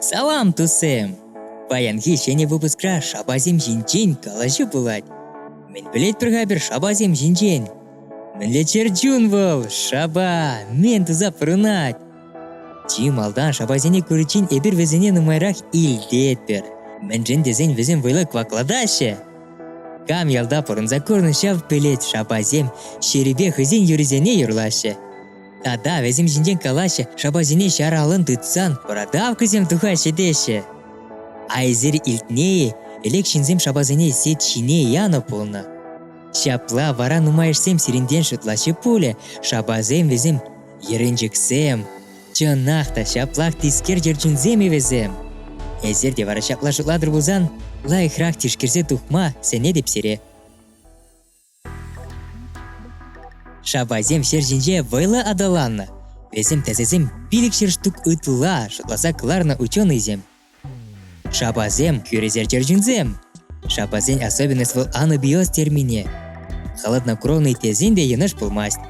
Салам, тусем! Паянхи ҫӗнӗ выпускра шапасем ҫинчен калаҫу пулать. Мӗн пӗлет пӗр-ха пӗр шапасем ҫинчен? Мӗнле чӗр чун вӑл! Шапа! Мӗн туса пурӑнать? Чи малтан шапасене куриччен эпир вӗсене нумайрах илтетпӗр. Мӗншӗн тесен вӗсем вӑйлӑ кваклатаҫҫӗ. Кам ялта пурӑнса курнӑ ҫав пӗлет шапасем ҫӗрӗпе хӑйсен юрисене юрлаҫҫӗ. Тата вӗсем ҫинчен калаҫҫӗ, шапасене ҫар аллӑн тытсан продавкӑсем тухаҫҫӗ теҫҫӗ. Айсер илтнӗ-и, ӗлек ҫынсем шапасене сет ҫине янӑ пулнӑ. Ҫапла вара нумайӑшсем сирӗнтен шутлаҫҫӗ пулӗ, шапасем вӗсем Еренчӗксем, чӑнах та ҫаплах тискер чӗрчунсем-и вӗсем! Эсир те вара ҫапла шутлатӑр пулсан, лайӑхрах тишкерсе тухма сӗнетӗп сире. Шапасем ҫӗр ҫинче вӑйлӑ аталаннӑ. Вӗсем тӗсӗсем пилӗк ҫӗр штук ытла шутласа кӑларнӑ ученӑйсем. Шапасем – хӳресер чӗрчунсем. Шапасен особенность вӑл анӑ биоз термине. Холоднокровный тесен те йӑнӑш пулмасть.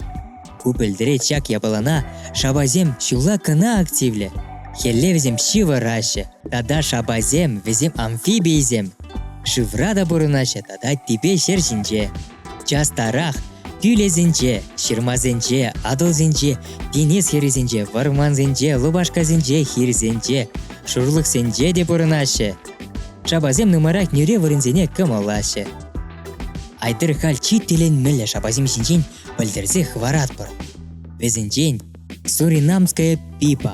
Ку пӗлтӗре чак япалана шапасем ҫулла кӑна активлӗ. Хӗлле вӗсем ҫывӑраҫҫӗ. Тата шапасем вӗсем амфибийсем. Шывра та пурӑнаҫҫӗ тата типе ҫӗр ҫинче. Частарах кӳлесенче, ҫырмасенче, Атӑлсенче, Тинӗс хӗррисенче, вӑрмансенче, лупашкасенче, хирсенче, шурлӑхсенче те пурӑнаҫҫӗ. Шапасем нумайрах нӳре вырӑнсене кӑмӑллаҫҫӗ. Айтӑр халь чи тӗлӗнмелле шапасем ҫинчен пӗлтерсе хӑваратпӑр. Вӗсенчен Суринамская пипа.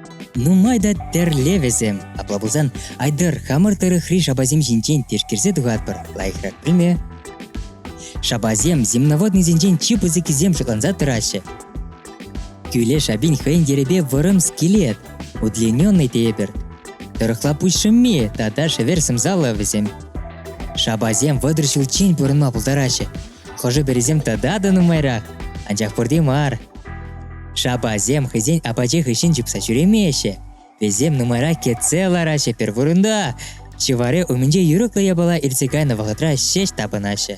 Нумай та тӗрле вӗсем. Апла пулсан, Айдар, хамӑр тӑрӑхри шапасем ҫинчен тишкерсе тухатпӑр. Лайӑхрах пӗлме. Шапасем земноводнӑйсенчен чи пысӑккисем шутланса тӑраҫҫӗ. Кӳле шапин хӑйӗн йӗрӗпе вӑрӑм скелет, удлиненный тепӗр. Тӑрӑхла пуҫ шӑмми тата шӗвер сӑмсаллӑ вӗсем. Шапасем вӑтӑр ҫулччен пурӑнма пултараҫҫӗ. Хӑшӗ-пӗрисем тата та нумайрах, анчах пурте мар. Шапасем хӑйсен апачӗ хыҫҫӑн чупса ҫӳремеҫҫӗ. Вӗсем нумайра кӗтсе лараҫҫӗ пӗр вырӑнта. Ҫӑварӗ умӗнче юрӑхлӑ япала иртсе кайнӑ вӑхӑтра ҫеҫ тапӑнаҫҫӗ.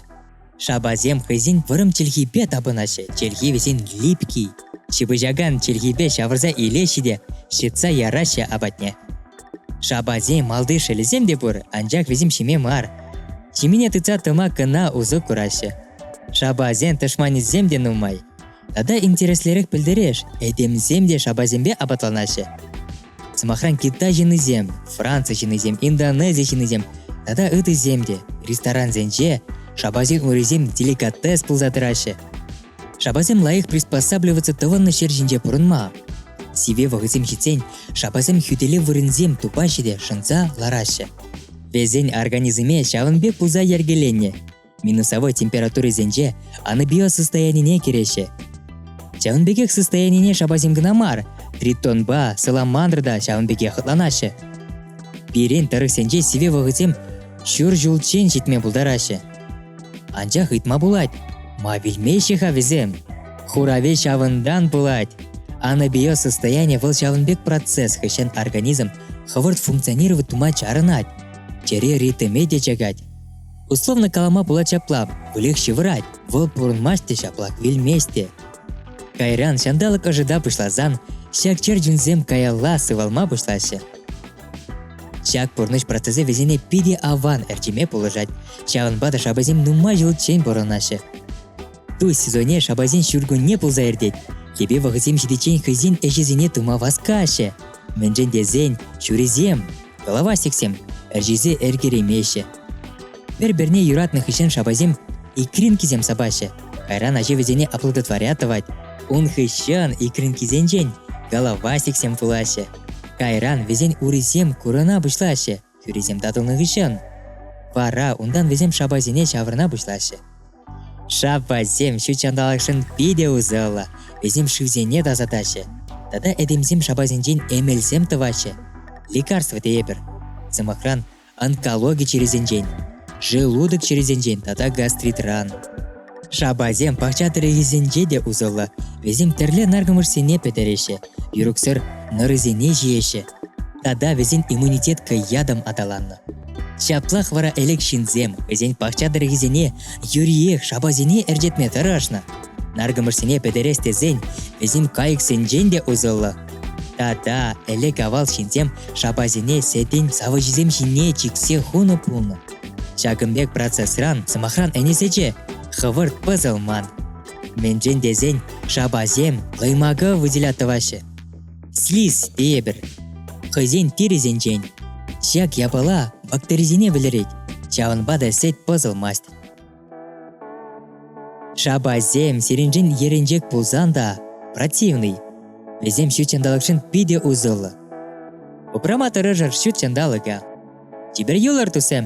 Шапасем хӑйсен вӑрӑм чӗлхипе тапӑнаҫҫӗ. Чӗлхи вӗсен липкий. Ҫыпӑҫакан чӗлхипе ҫавӑрса илеҫҫӗ те ҫӑтса яраҫҫӗ апатне. Шапасем малти шелӗсем те пур, анчах вӗсем ҫиме мар. Ҫимене тытса тӑма кӑна усӑ кураҫҫӗ. Шапасен тӑшманӗсем те нумай. Тата интереслерех пӗлтереш, этемсем те шапасемпе апатланаҫҫӗ. Сӑмахран, Китай ҫыннисем, Франци ҫыннисем, Индонези ҫыннисем тата ытисем те ресторансенче шапасен урисем деликатес пулса тӑраҫҫӗ. Шапасем лайӑх приспосабливаться тӑвӑннӑ ҫӗр ҫинче пурӑнма. Сиве вӑхӑтсем ҫитсен шапасем хӳтӗлев вырӑнсем тупаҫҫӗ те шӑнса лараҫҫӗ. Вӗсен организмӗ ҫавӑн пек пулса йӗркеленнӗ, минусовой температурисенче анабиоз состоянине кӗреҫҫӗ. Ҫавӑн пекех состоянине шапасем кӑна мар, тритонпа, саламандра та ҫавӑн пекех хӑтланаҫҫӗ. Пирӗн тӑрӑхсенче сивӗ вӑхӑтсем ҫур ҫулччен ҫитме пултараҫҫӗ. Анчах ыйтма пулать, ма вилмеҫҫӗ-ха вӗсем? Хураве ҫавӑнтан пулать. Анабиоз состояние вӑл ҫавӑн пек процесс хыҫҫӑн организм хӑвӑрт функционировать тума чарӑнать, чӗре ритме те чакать. Условно калама пулать ҫапла. Выльӑх ҫывӑрать. Вӑл пурӑнмасть те ҫапла, вилмест те. Кайран ҫанталӑк ӑшӑта пуҫласан ҫак чӗрчунсем каялла сывалма пуҫлаҫҫӗ. Ҫак пурнӑҫ процесӗ вӗсене питӗ аван ӗрчеме пулӑшать, ҫавӑнпа та шапасем нумай ҫулччен пурӑнаҫҫӗ. Тусь сезонне шапасен ҫуркунне пулса иртет. Йӗпе вӑхӑтсем ҫитиччен хӑйсен ӗҫӗсене тума васкаҫҫӗ. Мӗншӗн тесен ҫурисем, голова сексем ӗрчесе ӗркеремеҫҫӗ, Пӗр-пӗрне юратнӑ хыҫҫӑн шапасем икринкисем сапаҫҫӗ. Кайран ачи вӗсене аплодотворя тӑвать. Ун хыҫҫӑн икринкисенчен головасиксем пулаҫҫӗ. Кайран вӗсен урисем курӑна пуҫлаҫҫӗ, хӳрисем татӑлнӑ хыҫҫӑн. Вара унтан вӗсем шапасене ҫавӑрна пуҫлаҫҫӗ. Шапасем ҫут ҫанталӑкшӑн питӗ усӑллӑ. Вӗсем шывсене тасатаҫҫӗ. Тата этемсем шапасенчен эмелсем тӑваҫҫӗ. Лекарство тейӗпӗр. Сӑмахран, онкологи чирӗсенчен, желудок чирӗсенчен тата гастритран. Шапасем пахча тӗрӗкӗсенче те усӑллӑ. Вӗсем тӗрлӗ наркӑмӑшсене пӗтереҫҫӗ, юрӑксӑр нӑрӑсене ҫиеҫҫӗ. Тата вӗсен иммунитет хӑй ятӑм аталаннӑ. Ҫаплах вара ӗлӗк ҫынсем хӑйсен пахча тӗрӗкӗсене юриех шапасене ӗрчетме тӑрӑшнӑ. Наркӑмӑшсене пӗтерес тесен вӗсем кайӑксенчен те усӑллӑ. Тата ӗлӗк-авал ҫынсем шапасене сетин савӑчӗсем ҫине чиксе хунӑ пулнӑ. Ҫакӑн пек процессран, сӑмахран, ӗнесече хӑвӑрт пӑсӑлман. Мӗншӗн тесен шапасем лӑймака выделяттӑваҫҫӗ. Слиз тейӗпӗр хӑйсен тирӗсенчен. Ҫак япала бактерисене вӗлерет, ҫавӑнпа та сет пӑсӑлмасть. Шапасем сирӗншӗн ерӗнчек пулсан та противный. Вӗсем ҫут ҫанталӑкшӑн питӗ усӑллӑ. Упрама тӑрӑшӑр ҫут ҫанталӑка. Тепер юлӑр тусем!